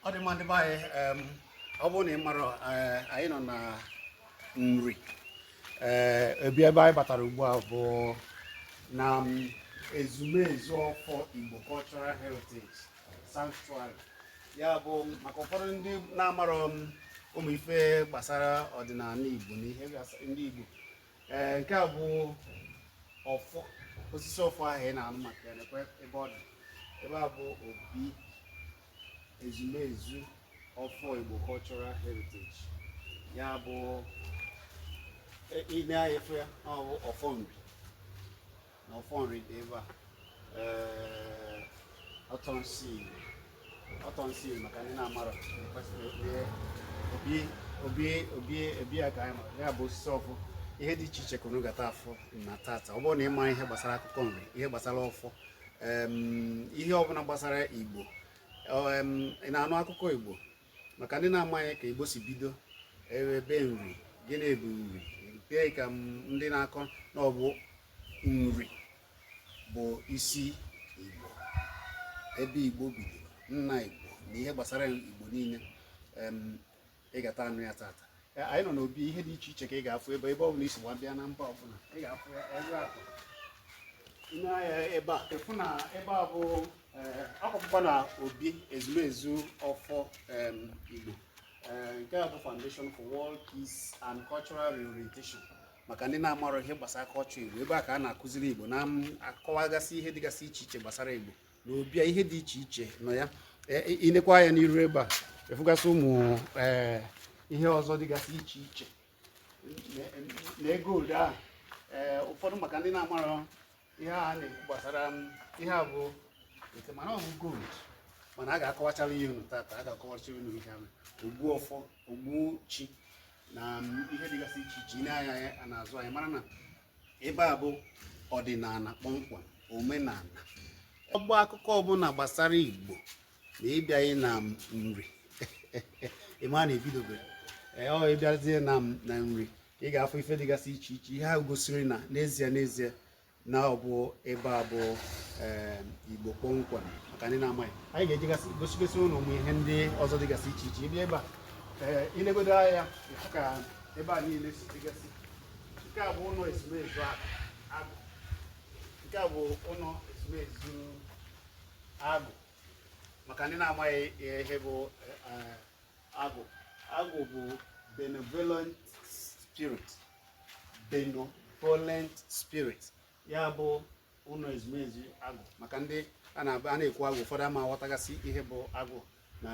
ọ dị mma ndị be anyị em, ọ bụrụ na ị mara eh, anyị nọ na nri ee ebe ebe anyị batara ugbu a bụ na em, ezumezu ọfọ igbo cultural heritage sanctuary ya bụ maka ụfọdụ ndị na-amarọ em ụmụ ife gbasara ọdịnala igbo na ihe gbasa- ndị igbo ee nke a bụ ọfọ osisi ọfọ ahụ ị na-anụ maka ya nekwe ebe ọ dị ebe a bụ obi ezumezu ọfọ igbo cultural heritage ya bụ ị na-efe ya ọ bụ ọfọ nri na ọfọ nri dị ebe a ee ọtọnsị ọtọnsị maka ndị na-amara kwesịrị ihe obi obi obi obi a ka anyị mara ya bụ osisi ọfọ ihe dị iche iche ka unu gata afụ na tata ọ bụrụ na ị ma ihe gbasara akụkọ nri ihe gbasara ọfọ em, ihe ọbụla gbasara igbo em, ị na-anụ akụkọ igbo maka ndị na-amaghị ka igbo si bido ebe nri gịnị bụ nri nke ka ndị na-akọ na ọ bụ nri bụ isi igbo ebe igbo bidoro nna igbo na ihe gbasara igbo niile ị gata anụ ya tata anyị nọ n'obi ihe dị iche iche ka ị ga-afụ ebe ebe ọ bụla i si gbabịa na mba ọbụla ị ga-afụ ebe akụ nee anya ebe a ị fụ na ebe a bụ akwụkwọ na obi ezumezu ọfọ igbo nke a bụ foundation for world peace and cultural reorientation maka ndị na-amarọ ihe gbasara culture igbo ebe a ka a na-akụziri igbo na-akọwagasị ihe dịgasị iche iche gbasara igbo na obi a ihe dị iche iche nọ ya i nekwa anya n'iru ebe a ị fụgasị ụmụ e, ihe ọzọ dịgasị iche iche na gold a ụfọdụ maka ndị na-amara ihe a na-ekwu gbasara ihe a bụ nke mana ọ bụ gold mana a ga-akọwachara ihe unu tata a ga-akọwachara unu ihe ahụ ogbu ọfọ ogbu chi na ihe dịgasị iche iche i nee anya ya n'azụ anyị mara na ebe a bụ ọdịnala kpọmkwem omenala ọgba akụkọ ọbụla gbasara igbo na ị bịaghị na nri ị ma na i bidoberọ ee ị bịazie na na nri ị ga-afụ ife dịgasị iche iche ihe ahụ gosiri na n'ezie n'ezie na ọ bụ ebe a bụ eh, igbo kpọmkwem maka ndị na-amaghị anyị ga-ejegasị gosigasị unu ụmụ ihe ndị ọzọ dịgasị iche iche ị bịa ebe a eh, i legodo anya ka ebe a niile si dịgasị nke a bụ ụlọ ezumezu agwụ nke a bụ ụlọ ezumezu agwụ maka ndị na-amaghị ihe bụ eh, agwụ agwụ bụ benevolent spirit benevolent spirit ya bụ ụlọ ezumezu agwụ maka ndị a na-ekwu agwụ ụfọdụ ama aghọtagasị ihe bụ agwụ